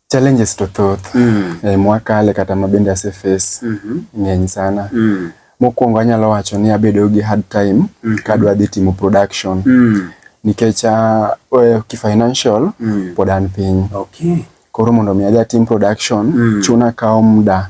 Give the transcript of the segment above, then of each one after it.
Challenges to thoth mm. e, mwakale kata ma bende ase face mm -hmm. ng'eny sana mm. Mokwongo anyalo wacho ni abedo gi hard time mm -hmm. kadwa dhi timo production mm. nikech uh, kifinancial mm. pod an piny okay. Koro mondo mi adhi atim production mm. chuna kawo muda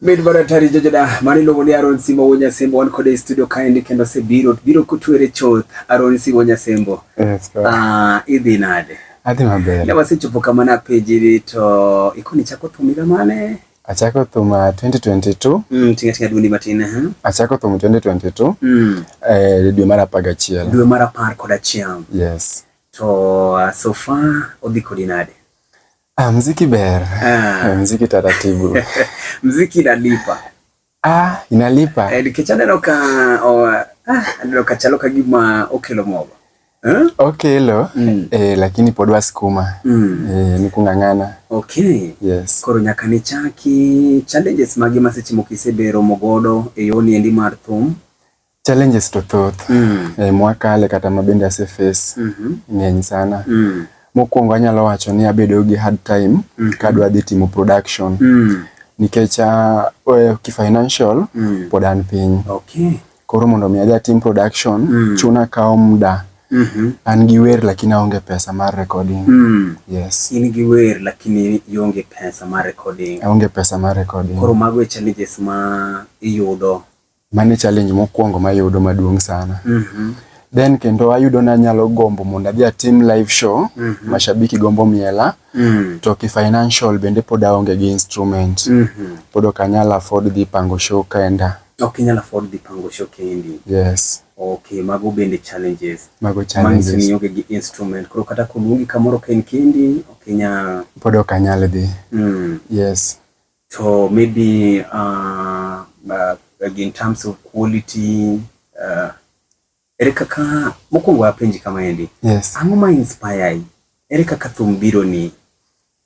Mid Baratari Jojoda mani luongo ni Aaron Simo Wuo Nyasembo wan kode e studio kaendi kendo osebiro biro kutwere chuth Aaron Simo Nyasembo. Yes, uh, ah, idhi nade? Adhi maber. Ne wasechopo kama na pejiri to ikoni chako thum higa mane? Achako thum 2022. Uh, mm, tinga tinga dundi matin ha. Uh-huh. Achako thum 2022. Mm. Eh, dwe mar 11. Dwe mar 11. Yes. To uh, so far odhi kodi nade? Ah, mziki ber. Ah. Mziki taratibu. mziki inalipa. Ah, inalipa. Eh, nikech aneno ka oh, ah, aneno ka chalo ka gima okelo mogo. Eh? Okelo mm. eh, lakini pod wasukuma mm. eh, ni kung'ang'ana. Okay. Yes. Koro nyaka nichaki challenges mage ma seche moko iseberomo godo e yoni endi mar thum? Challenges to thoth mm. e, eh, mwakale kata ma bende ase face mm -hmm. ng'eny sana mm. Mokwongo anyalo wacho ni abedo gi hard time mm -hmm. kadwa dhi timo production mm. nikech ah, eh, kifinancial mm. pod an piny okay. Koro mondo mi adhi atim production mm. chuna kawo muda mm -hmm. an gi wer lakini aonge pesa mar recording mm. yes in gi wer lakini ionge pesa mar recording aonge pesa mar recording koro mago e challenges ma iyudo Mane challenge mokwongo mayudo maduong' sana. Mm -hmm. Then kendo ayudo na nyalo gombo mondo adhi atim live show. Mm -hmm. Mashabiki gombo miela. Mm -hmm. To ki financial bende pod aonge gi instrument. Mm -hmm. Pod ok anyal afford dhi pango show kenda. Ok inyal afford dhi pango show kendi. Yes. Okay, mago bende challenges. Mago challenges. Manyiso ni onge gi instrument. Koro kata koluongi kamoro ka en kendi, ok inyal. Pod ok anyal dhi. Mm. Yes. So maybe uh, uh, in terms of quality uh, ere kaka mokwongo apenji kama endi yes. ang'o ma inspire ere kaka thum biro ni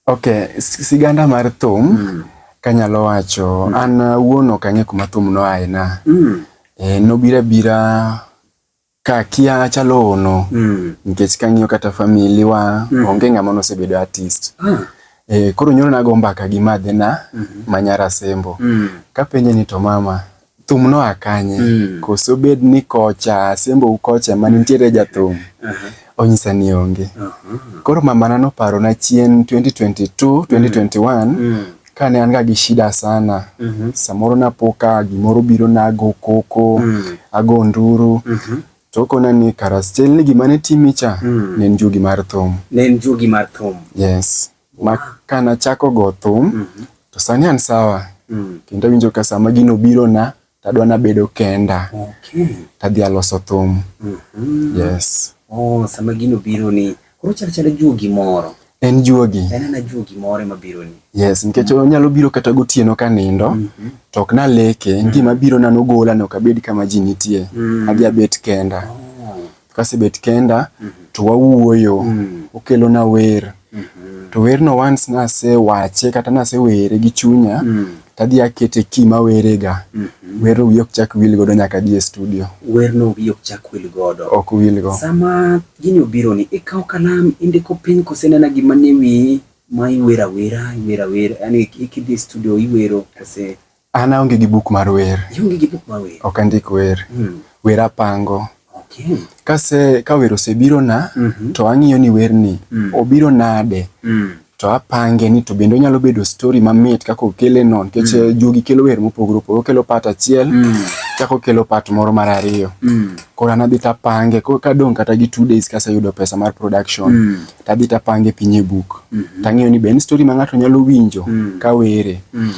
okay siganda mar thum mm. kanyalo wacho mm. an uh, wuon ok ang'e kuma thum noaye na mm. e, eh, nobira bira Ka kia achalo ono mm. nikech kang'iyo kata family wa mm. onge ng'ama nosebedo artist mm. E, koro nyoro nago mbaka gi madhina mm -hmm. manyara sembo mm. kapenje ni to mama thum no akanye mm. koso bed ni kocha sembo ukocha ma nitiere jathum uh -huh. onyisa ni onge uh -huh. koro mamana noparo na chien 2022 2021 mm. kane an ga gi shida sana mm -hmm. samoro napoka gimoro biro nago koko mm -hmm. ago nduru mm -hmm. tokona ni karastel ni gima ne timi cha mm -hmm. ne en jugi mar thum ne en jugi mar thum yes wow. ma kana chako go thum mm -hmm. to sani an sawa mm -hmm. kendo winjo ka sama gino biro na tadwa nabedo kenda okay. tadhi aloso thum mm -hmm. yes oh, sama gino biro ni koro chal chal juogi moro en juogi en ana juogi moro ema biro ni yes nikech mm -hmm. onyalo biro kata gotieno ka nindo mm -hmm. to ok naleke mm -hmm. gima biro nano gola no kabed kama ji nitie mm -hmm. adhi abet kenda oh. kasebet kenda mm -hmm. to wawuoyo mm -hmm. okelona wer mm -hmm. to werno once nasewache kata nasewere gi chunya mm -hmm. tadhi akete ki mawerega mm -hmm. werno wiye ok chak wil godo nyaka dhi e studio werno wiye ok chak wil godo ok wil go sama gini obiro ni ikawo kalam indiko piny kosenena gima ne wiyi ma iwera wera iwera wera yani ikidhi e studio iwero kose An aonge gi buk mar wer. Ionge gi buk mar wer? Ok andik wer. Mm. Wer apango. Okay. Kase ka wer osebiro na mm -hmm. to ang'iyo ni wer ni mm. obiro nade mm. to apange ni to bende onyalo bedo story mamit kaka okele no nikech mm. Eh, jogi kelo wer mopogore opogore okelo pat achiel mm. kaka okelo pat moro mar ariyo mm. koro an adhi tapange koro kadong' kata gi two days kaseyudo pesa mar production mm. tadhi tapange piny e buk mm -hmm. tang'iyo ni be en story ma ng'ato nyalo winjo mm. ka were mm.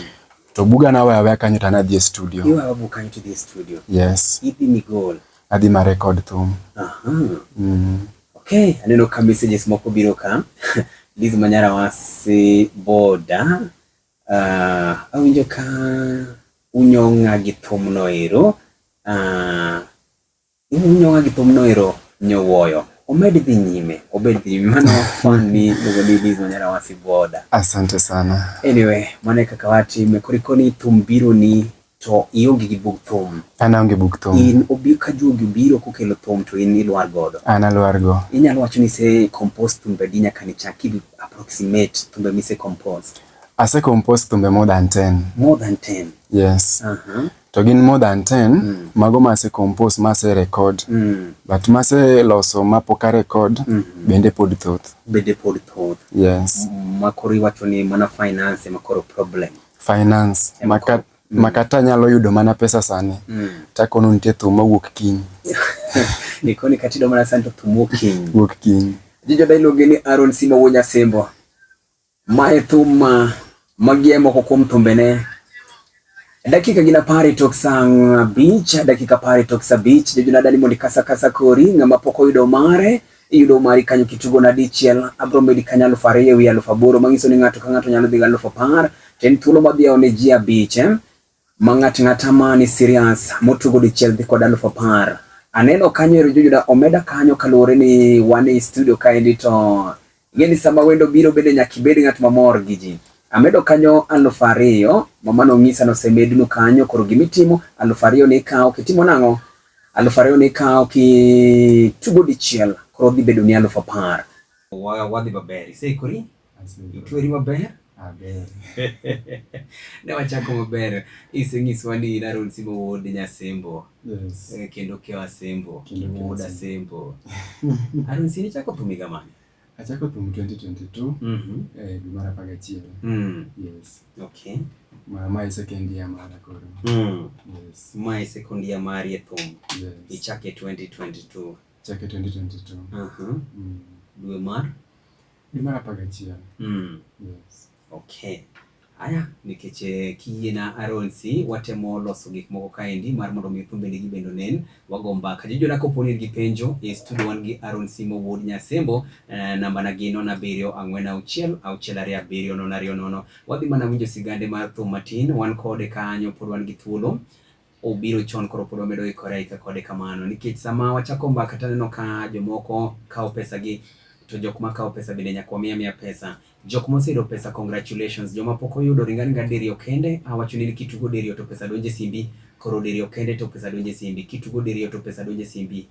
To buga na waya waya kanyo to an adhi e studio. Iwa buga kanyo to dhi e studio. Yes. Idhi ni goal. Adhi ma record thum. Aha. Uh -huh. Mm. Okay, aneno ka messages moko biro ka. Liz Manyara wasi boda. Uh, awinjo ka unyong'a gi thumno ero. Uh, Iwinjo ng'a gi thum no ero nyowoyo. Omed dhi nyime, obed dhi nyime. Mano fan ni iluongo ni Liz Wanyara Wasi Boda. Asante sana. Anyway, mano e kaka watime. Koro ikoni thum biro ni to ionge gi bug thum. An aonge bug thum. In obi ka juogi obiro kokelo thum to in ilwar godo. An alwar go. Inyalo wacho ni se compose thumbe di nyaka ni chak idu approximate thumbe mi se compose. Ase compose thumbe more than 10. More than 10. Yes. Uh -huh. to gin more than 10 mm. mago mase compose mase record mm. but mase loso mapoka record mm -hmm. bende pod thoth bende pod thoth yes mm, makori wacho ni mana finance makoro problem finance yeah, maka mm. makata nyalo yudo mana pesa sani mm. takono nitie thum mawuok kiny nikoni katido mana sani to thum wuok kiny wuok kiny jijo dailuonge ni Aaron Simo Wonya Sembo Ma e thum ma magi e moko kuom thumbene. Dakika gin apar tok sang' abich, dakika apar tok saa abich, jojuna dani mondi kasa kasa kori, ng'ama pok oyudo mare, iyudo mari kanyo kitugo na dichiel, abro medi kanyo aluf ariyo ewi aluf aboro, manyiso ni ng'ato ka ng'ato nyalo dhi gi aluf apar, to en thuolo ma dhiyawo ne ji abich. Ma ng'at ng'ata ma ni serious motugo dichiel dhi kod alufu apar. Aneno kanyo ero jojuda omeda kanyo kaluwore ni wan e studio kaendi to ing'e ni sama wendo biro bende nyaka ibed ng'at mamor gi ji. Amedo kanyo alufu ariyo, mama nong'isa ni osemednu kanyo, koro gima itimo alufu ariyo ni ikawo kitimo nang'o? Alufu ariyo ni ikawo kitugo dichiel, koro dhi bedo ni alufu apar. Wa- Wadhi maber, iseikori? Itweri maber? Aber. ne wachako maber. Isenyiswa ni Naron Simo Wuod Nyasembo. Yes. Eh, kendo Keo Asembo. Kendo Keo Wuod Asembo. Naron Simo ichako thum higa mane? Achako thum 2022. Mhm. Eh, dwe mar apar gachiel. Mm. Yes. Okay. Ma ma e second year mara koro. Mm. Yes. Ma e second year mari e thum. Yes. Ichake 2022. Chake 2022. Aha. Mm. Dwe mar Dwe mar apar gachiel. Mm. Yes. Okay. Aya, nikech eh, kiyiena Aronsi, watemo loso gik moko kaendi mar mondo mi thumbe nigi bendo nen, wago mbaka. Jojona kopo ni in gi penjo, e studio wan gi Aronsi Mowuod Nyasembo, eh, namba na gi nono abiriyo ang'wen auchiel, auchiel ariyo abiriyo nono ariyo nono. Wadhi mana winjo sigande mar thum matin, wan kode kanyo pod wan gi thuolo. obiro chon koro pod wamedo ikore aika kode kamano nikech sama wachako mbaka taneno ka jomoko kawo pesa gi to jok ma kawo pesa bende nyaka wamiya miya pesa jok moseyudo pesa congratulations joma pok oyudo ringa ringa diriyo kende awacho ni kitugo diriyo to pesa donje simbi koro diriyo kende to pesa donje simbi kitugo diriyo to pesa donje simbi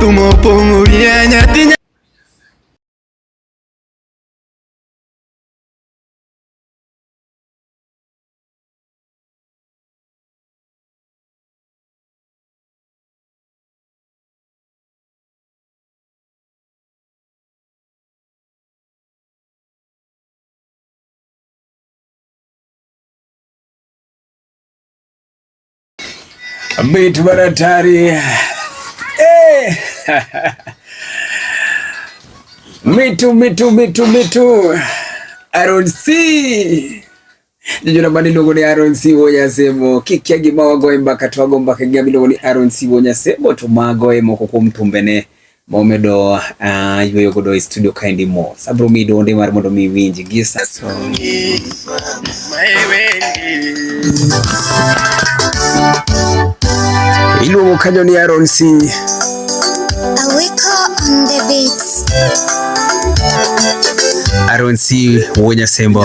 Tumo pongo rienya tinya Bit baratari. Eh. Mitu mitu mitu mitu. Aaron C. Jijuna mani luongo ni Aaron C Wonyasebo. Kikia gima wagoye mbaka to wago mbaka gi gima iluongo ni Aaron C Wonyasebo to magoye moko kuom tumbene. momedo uh, ah, yweyo godo e studio kaendi mo sabro mi donde mar mondo mi winji gi sa iluongo kanyo ni Aaron C Awiko on the beat Aaron C Wonya Sembo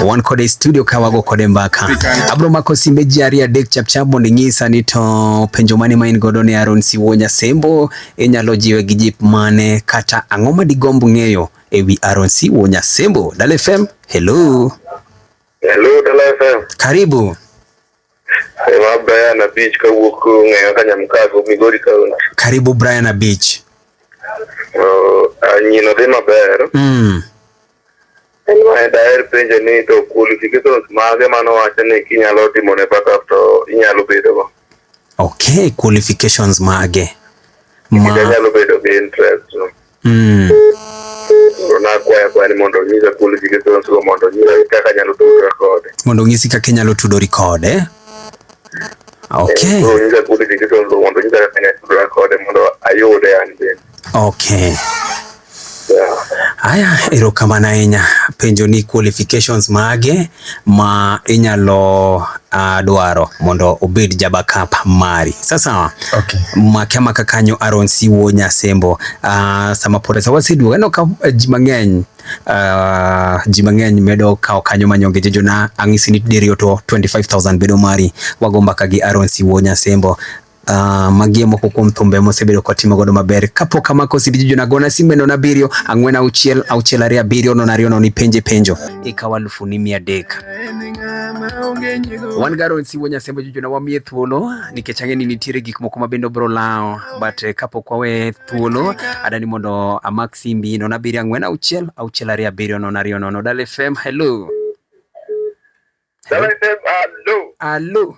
wan kode e studio ka wago kode mbaka abro mako simbe ji ariyo adek chapchap mondo inyisa ni to penjo mane ma in godo ne Aaron C Wonya Sembo Inyalo jiwe gi jip mane kata ang'o ma digomb ng'eyo e wi Aaron C. Wuo Nyasembo? Dala FM, hello. Hello, Dala FM. Karibu. Ema Brian Abich kawuok ng'eyo ka Nyamkago, Migori County. Karibu Brian Abich. Uh, nyino dhi maber. Mm. En ma daher penjo ni to qualifications mage mano wacho ni kinyalo timo ne backup to inyalo bedo go. Okay, qualifications mage? Ma inyalo bedo gi interest. No? Mm. Na kwaya kwa ni mondo nyisa qualifications go mondo nyisa kaka nyalo tudore kode. Mondo nyisi kaka inyalo tudori kode. Okay. Eh, mondo nyisa qualifications go mondo nyisa kaka inyalo tudore kode mondo ayude an bende. Okay. Haya, erokamano ahinya. Penjo ni qualifications mage ma inyalo uh, dwaro mondo obed jabakap mari sasawa okay. make maka kanyo Aaron Siwo Nyasembo uh, sama pod sa waseduogo aneno ka eh, ji mang'eny uh, ji mang'eny medo kawo kanyo manyonge jejona ang'isi ni diriyo to 25000 bedo mari wago mbaka gi Aaron Siwo Nyasembo Uh, magie moko kuom thumbe mosebedo kotimo godo maber kapok amako CD Juju nagona simbe nono abiriyo ang'wen auchiel auchiel ariyo abiriyo nono ariyo nono ipenje penjo ikawo alufu ni mia adek wan garo nsiwo nyasembe Juju na wamiye thuolo nikech ang'e ni nitiere gik moko ma bende obro lawo but eh, kapok wawe thuolo adani mondo amak simbi nono abiriyo ang'wen auchiel auchiel ariyo abiriyo nono ariyo nono Dale FM hello Dala FM, hello. hello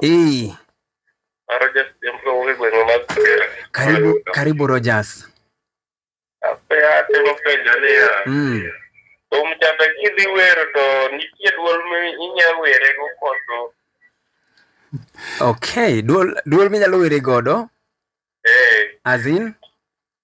Hey. Karibu, karibu Rogers. Mm. Omchanda kidhi wero to nitie duol minya were go koso. Okay, duol duol minyalo were godo? Eh. As in?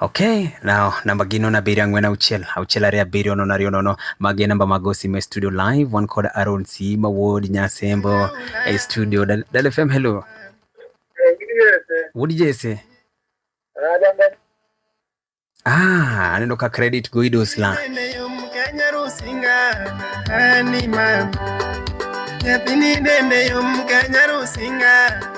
Okay, now namba gi nono abiriyo ang'wen auchiel auchiel ariyo abiriyo nono ariyo nono magi namba mag osimo e studio live wan kod Aaron Sima Wuod Nyasembo e studio Dal Dal FM hello Wuod Jesse Ah, aneno ka credit go idosla Nyathini dende yom ka nyarusinga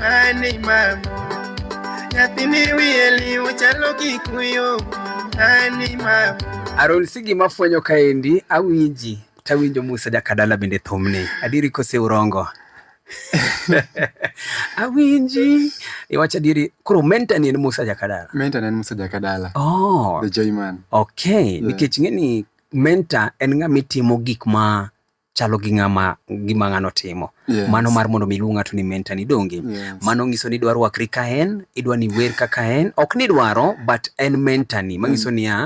Ani mamo nyathini wiye liu chalo kikuyo ani mamo Aron Sigi mafwenyo kaendi awinji tawinjo Musa Jakadala bende thumni adiri kose urongo awinji iwacho adieri koro menta ni en musa jakadala menta ni en musa jakadala oh. the joyman okay yeah. nikech ing'e ni menta en ng'ama itimo gik ma chalo gi ng'ama gima ng'ano timo yes. mano mar mondo mi iluong ng'ato ni menta ni donge yes. mano nyiso ni idwa rwakri ka en idwa ni wer kaka en ok ni dwaro but en menta ni manyiso mm. niya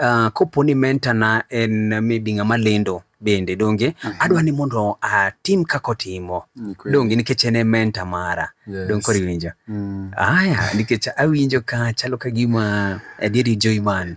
uh, kopo ni menta na en maybe ng'ama lendo bende donge mm -hmm. adwa ni mondo atim kaka otimo mm, okay. donge nikech en e menta mara yes. donge koro iwinjo mm. aya nikech awinjo ka chalo ka gima adieri joiman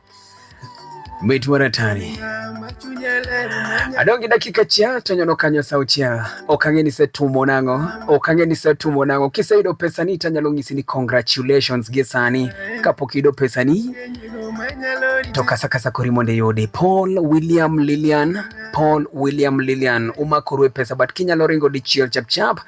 Bit waratani adongi dakika chia tonyono kanyo sauchia okange ni setumo nango okange ni setumo nango kiseyudo pesani tanyalo ng'isi ni congratulations gi sani kapok iyudo pesani to kasa kasa kori mondo iyudi Paul William Lilian Paul William Lilian umakoru e pesa but kinyalo ringo dichiel chapchap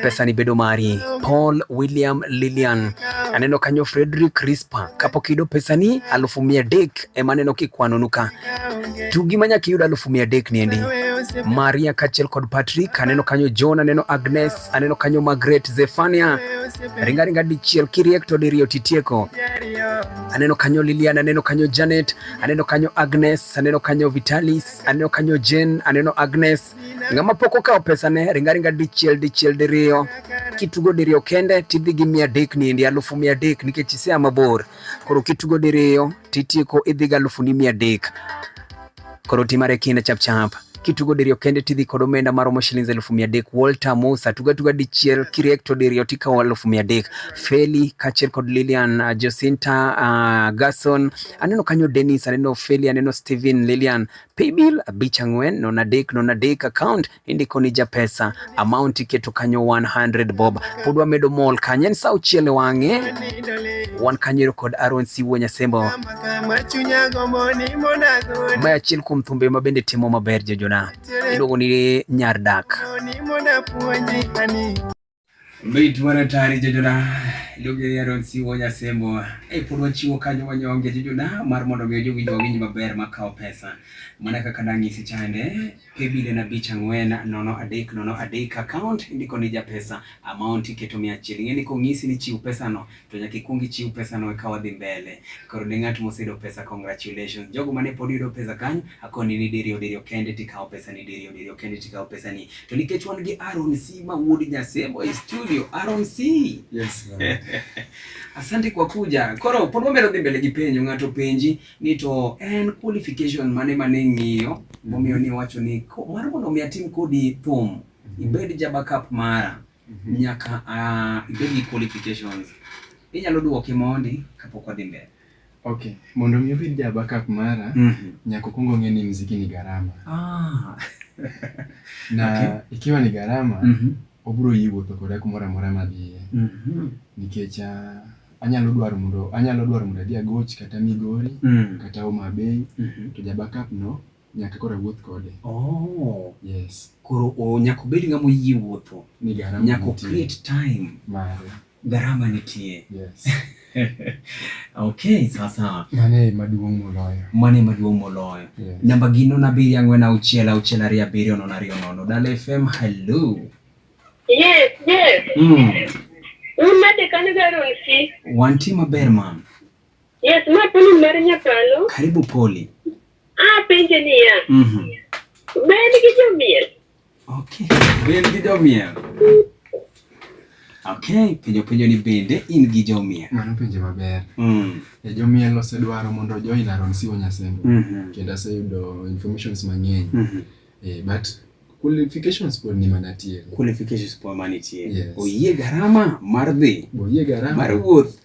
pesa ni bedo mari. Paul William Lilian aneno kanyo Frederick Rispa kapok iyudo pesa ni alufu mia dek ema aneno kikwanonuka tugi ma nyaka iyud alufu mia dek niendi Maria kachiel kod Patrick aneno kanyo John aneno Agnes aneno kanyo Margaret Zefania ringa ringa dichiel kiriek to diriyo titieko aneno kanyo Lilian aneno kanyo Janet aneno kanyo Agnes aneno kanyo Vitalis aneno kanyo Jane aneno Agnes Ng'ama pok okawo pesane ringaringa dichiel dichiel diriyo kitugo diriyo kende tidhi gi mia adek niendi alufu mia adek nikech isea mabor koro kitugo diriyo titieko idhi gi alufu ni mia adek koro timare kinde chapchap kitugo diriyo kende tidhi kod omenda maromo shillings elufu mia adek Walter Musa tuga tuga dichiel kiriek to diriyo tikawo elufu mia adek Feli kaachiel kod Lilian uh, Jacinta uh, Gason aneno kanyo Dennis aneno Feli aneno Steven Lilian paybill abich ang'wen nono adek nono adek account indiko ni japesa amount iketo kanyo 100 bob pod wamedo mol kanyo en sa auchiel e wang'e wan kanyo kod Aaron Siwo Nyasembo ma achiel kuom thumbe ma bende timo maber jojona iluongo ni nyar dak Mit mar atari jojona Lugia ya Ron Siwo Nyasembo e pod wachiwo kanyo wanyonge jojona mar mondo omiyo jowinjo wawinj maber makawo pesa mana kaka nang'isi chande pebile na bich ang'wen nono adek nono adek account indiko ni japesa amount iketo mia achiel ing'e ni kong'isi ni chiw pesano to nyaka ikwong ichiw pesano eka wadhi mbele. Koro ne ng'at moseyudo pesa, congratulations. Jogo mane pod yudo pesa kanyo, akoni ni diriyo diriyo kende tikawo pesani, diriyo diriyo kende tikawo pesani. To nikech wan gi Aaron C ma wuod Nyasebo e studio, Aaron C. Yes, ma'am. Asante kwa kuja. Koro pod wamedo dhi mbele gi penjo, ng'ato penji ni to en qualification mane mane ng'iyo momiyo ni wacho ni ko- mar mondo mi atim kodi thum, ibed ja backup mara. Nyaka ah, ibed gi qualifications. Inyalo dwoki mondi kapok wadhi mbele. Okay, mondo mi obed ja Habakkuk Mara, Mhm. nyaka okuong ong'e ni mziki ni gharama. Ah. Na Okay. ikiwa ni gharama, Mhm. obiro yie wuotho koda kumoro amora madhiye. Mhm. Nikech ah, anyalo dwaro mondo anyalo dwaro mondo adhi Agoch kata Migori Mm. kata Homa Bay Mhm. to ja Habakkuk no Nyaka koro awuoth kode. Oh. Yes. Koro oh, nyaka obed ng'ama oyie wuotho. Ni garama Nyaka nitie. create time. Mare. Garama nitie. Yes. okay, sawa sawa. Mano e maduong' moloyo. Mano e maduong' moloyo. Yes. Namba gi nono abiriyo ang'wen auchiel auchiel ariyo abiriyo nono ariyo nono. Dala FM, hello. Yes, yes. Mm. Un nade kanyo Garonsi? Wantie maber mam. Yes, ma Poli mar Nyakalo. Karibu Poli. Ah, penje niya. Mhm. Mm ben gi jomiel. Okay, ben gi jomiel. Okay, penjo penjo ni bende in gi jomiel. Mano penjo maber. Mm. E jomiel osedwaro mondo join Aron Siwo Nyasembo. Mm -hmm. Kendo aseyudo informations mang'eny. Mm -hmm. eh, but qualifications pod ni mana tiere. Qualifications pod mana tiere. Yes. Oyie garama mar dhi. Oyie garama. Mar wuoth.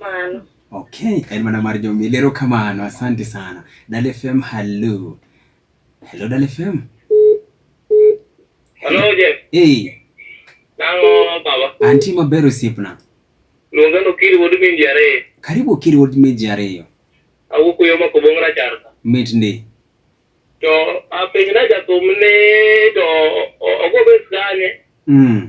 Mano. Okay, en mana mar jomil. Ero kamano, asante sana. Dale FM, hello. Hello Dale FM. Hello Jeff. Hey. Nango baba. Anti maber osiepna. Luonga no kiri wod min jare. Karibu kiri wod min jare. Awuok yo mako bong rachar. Mit ndi. To apenj na jathum ni to ogo bes kanye. Mm.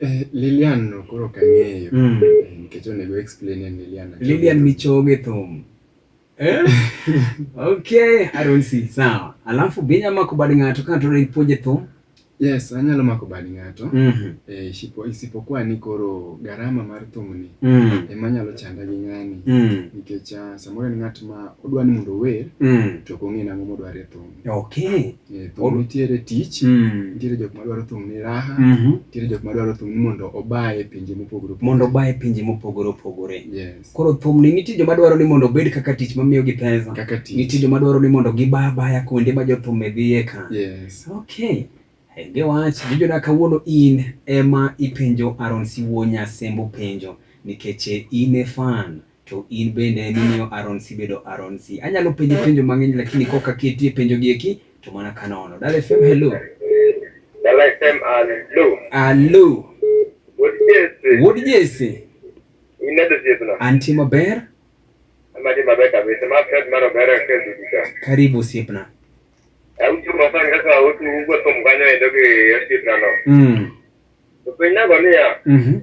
Eh, Lilian no koro ok ang'eyo. Mm. Eh, Nikech onego explain en Lilian. Achogo. Lilian Michoge thum. Eh? okay, I don't see. Sawa. Alafu binya mako bad ng'ato ka to ipuonje thum. Yes, anyalo mako bad ng'ato. Mhm. Eh, isipo- isipokuwa ni koro gharama mar thumni Mm. ema nyalo chanda gi ng'ani Mm. nikech ah, samoro en ng'at ma odwa ni mondo ower Mm. to ok ong'e nang'o modware thum. Okay. Eh, thum nitiere tich Mm. nitiere jok madwaro thum ni raha Mhm. nitiere jok madwaro thum ni mondo oba e pinje mopogore opogore. mondo oba e pinje mopogore opogore yes koro thumni nitie joma dwaro ni mondo obed kaka tich mamiyogi pesa kaka tich nitie joma dwaro ni mondo giba abaya kuonde ma jothum e dhiye ka yes okay henge wach vijona kawuono in ema ipenjo aron siwuo nyasembo penjo nikech in e fan To in bende nimiyo Aronsi bedo Aronsi. Anyalo penje penjo mang'eny lakini kok aketie penjo gi eki to mana kanono. Dala FM hello. Dala FM hello. Hello. Wuod Jesse. Wuod Jesse. Inedo siepna. Anti maber? Amadi maber kabisa. Ma Fred maro ber kedu dika. Karibu siepna. Autu masan kasa autu ugwa tumkanyo edoge siepna no. Mm. Penyago niya. Mhm. Mm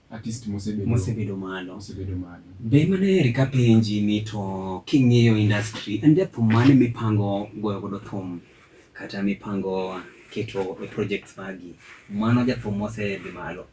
artist mosebedo mosebedo malo mosebedo malo be mana eri ka penji ni to king'iyo industry en jathum mane mipango goyo godo thum kata mipango keto e projects magi mano jathum mosedhi malo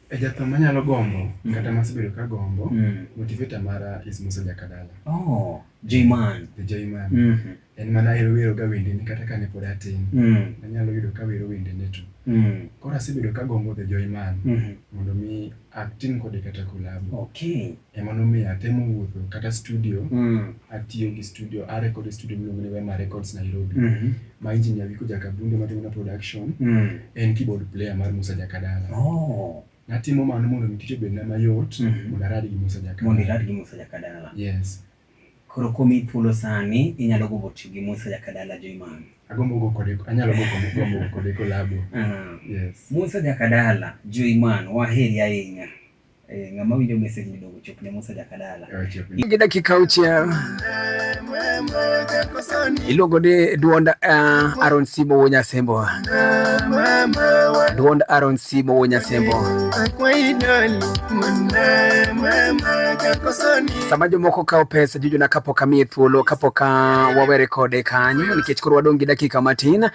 e jathum manyalo gombo mm. kata masebedo ka gombo mm. motivator mara is Musa Jakadala oh J-Man the J-Man mm -hmm. en mana ahero wero ga wendene kata kane pod atin mm. nanyalo yudo ka wero wendene to mm. koro asebedo ka gombo The Joy Man mm -hmm. mondo mi atim kode kata kolabo okay. ema nomiyo atemo wuotho kata studio mm. atiyo gi studio arekod studio miluongo ni Wema Records Nairobi mm -hmm. ma injinia Wiko Jakabunde matimo na production mm. en keyboard player mar Musa Jakadala oh natimo mano mondo mi tich obedna mayot mm -hmm. mondo arad gi Musa Jakadala mondo irad gi Musa Jakadala yes Koro komiyi thuolo sani inyalo gombo tiyo gi Musa Jakadala Joyman. Agombo go kode anyalo go kode gombo go kode collabo. Ah, Yes. Musa Jakadala Joyman waheri ahinya. Eh, ng'ama winjo message ni dongo chop ne Musa Jakadala. Eh, chop ni. Gi dakika auchiel. Iluongo ni duond uh, Aaron Sibo Wonya Sembo. Duond Aaron Simo wo Nyasembo. Sama jomoko kawo pesa juju na kapok amiye thuolo kapok wawere kode kanyo nikech koro wadong' gi dakika matin.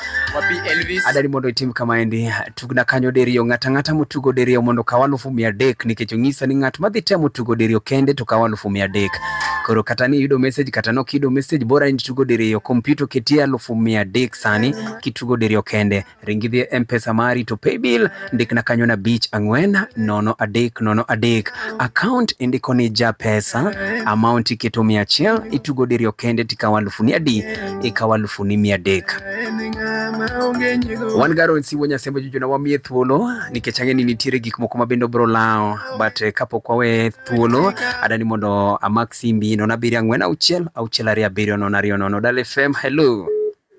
Adari mondo itim kama endi. Tugna kanyo diriyo ng'ata ng'ata motugo diriyo mondo kaw alufu mia adek nikech onyisa ni ng'at madhi temo tugo diriyo kende to kaw alufu mia adek. Koro kata ni yudo message kata nok yudo message bora in tugo diriyo kompyuta oketie alufu mia adek sani. kitugo diriyo kende. Ring idhi e Mpesa mari to paybill ndikna kanyo na bich ang'wen nono adek nono adek. Account indiko ni ja pesa, amount iketo mia achiel, itugo diriyo kende tikawo alufu ni adi, ikawo alufu ni mia adek. Wan garo siwo nyasembe jujuna wamiye thuolo nikech ang'e ni nitiere gik moko mabende obro lawo but eh, kapok wawe thuolo adani mondo amak simbi nono abiriyo ang'wen auchiel auchiel ariyo abiriyo nono ariyo nono Dal FM hello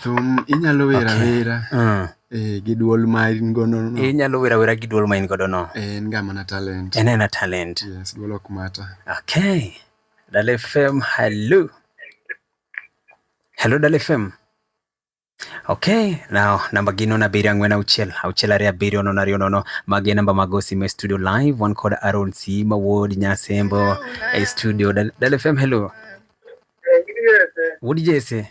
Thum inyalo wer awera mm. eh, gi dwol ma in godo no. Inyalo wer awera gi dwol ma in godo no. Eh, en ga mana talent. En ena talent. Yes, dwol ok mata. Okay. Dale FM, hello. Hello Dale FM. Okay, now namba gi nono abiriyo ang'wen auchiel auchiel ariyo abiriyo nono ariyo nono magi namba mag osimo e studio live wan kod Aaron Sima Wuod Nyasembo e studio Dal FM hello Wuod Jesse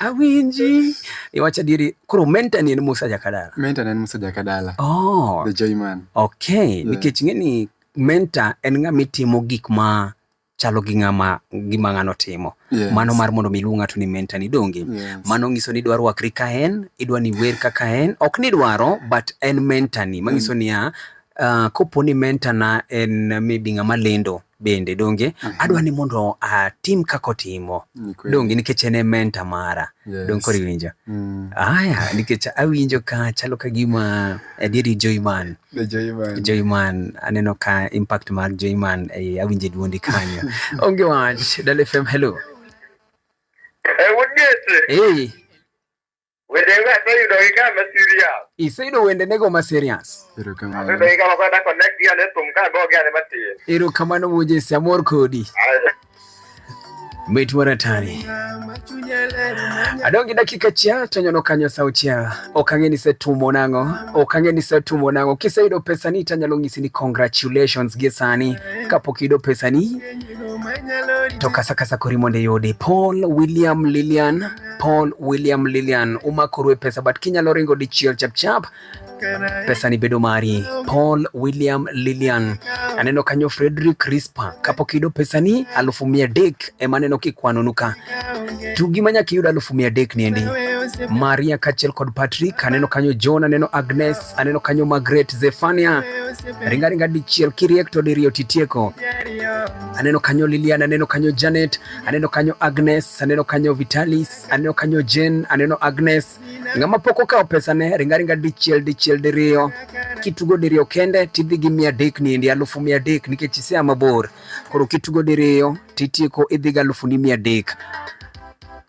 awinji iwacho adieri koro menta ni en Musa Jakadala menta ni en Musa Jakadala oh the joy man okay yeah. nikech ng'eni menta en ng'ama itimo gik ma chalo gi ng'ama gima ng'ano timo yes. mano mar mondo miluw ng'ato ni menta ni donge yes. mano ng'iso ni idwa rwakri ka en idwa ni wer kaka en ok ni dwaro but en menta ni mang'iso mm. niya uh, ah, kopo ni menta na en maybe ng'ama lendo bende donge uh -huh. adwa ni mondo atim uh, kaka otimo donge nikech en e menta mara yes. donge koro iwinjo mm. aya nikech awinjo ka chalo ka gima adieri Joyman Joyman aneno ka impact mar Joyman e, awinjo duondi kanyo onge wach Dala FM hello eh, hey. Wende ga to yudo gi kama serious. Iseyudo wende nego ma serious. Erokamano. Wende ga ma kwenda connect ya ne tum ka go ga ne matin. Erokamano wuoje si amor kodi. Mit mara tani. Adongi dakika chia to nyono kanyo sa chia. Okange ni setumo nango. Okange ni setumo nango. Kisa yudo pesa ni tanyalo ngisi ni congratulations gi sani. Kapok yudo pesa ni. To kasa kasa kori mondo yudi. Paul William Lilian. Paul William Lilian umakoru e pesa but kinyalo ringo dichiel chapchap pesa ni bedo mari. Paul William Lilian aneno kanyo Frederick Rispa kapok iyudo pesa ni alufu mia dek ema aneno kikwanonu ka to gima nyaka iyud alufu mia dek niendi Maria kachel kod Patrick aneno kanyo John aneno Agnes aneno kanyo Margaret Zefania ringaringa dichiel kiriek to diriyo titieko aneno kanyo Lilian aneno kanyo Janet aneno kanyo Agnes, aneno kanyo Vitalis, aneno kanyo Jen, aneno Agnes. Ng'ama pok okawo pesane ringaringa dichiel dichiel diriyo kitugo diriyo kende tidhi gi mia adek niendi alufu mia adek nikech isea mabor koro kitugo diriyo titieko idhi gi alufu ni mia adek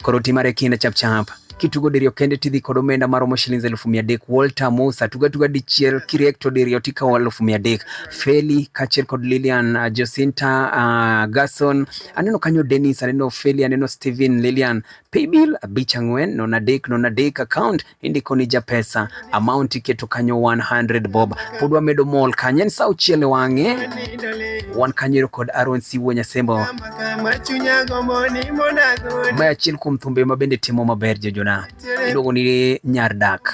koro timare kinda chapchap kitugo diriyo kende tidhi kod omenda maromo shillings elfu mia adek Walter Musa tuga tuga dichiel kiriek to diriyo tikawo elfu mia adek Feli kachiel kod Lilian uh, Jacinta uh, Gason aneno kanyo Dennis aneno Feli aneno Steven Lilian paybill abich ang'wen non adek non adek account indiko ni japesa amount iketo kanyo 100 bob pod wamedo mol kanyo en sa uchiele wang'e wan kanyero kod Aaron Siwo Nyasembo ma achiel kuom thumbe ma bende timo maber jojona iluongo ni nyar dak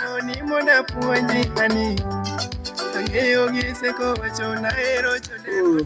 ang'eyo gi seko wacho nahero chode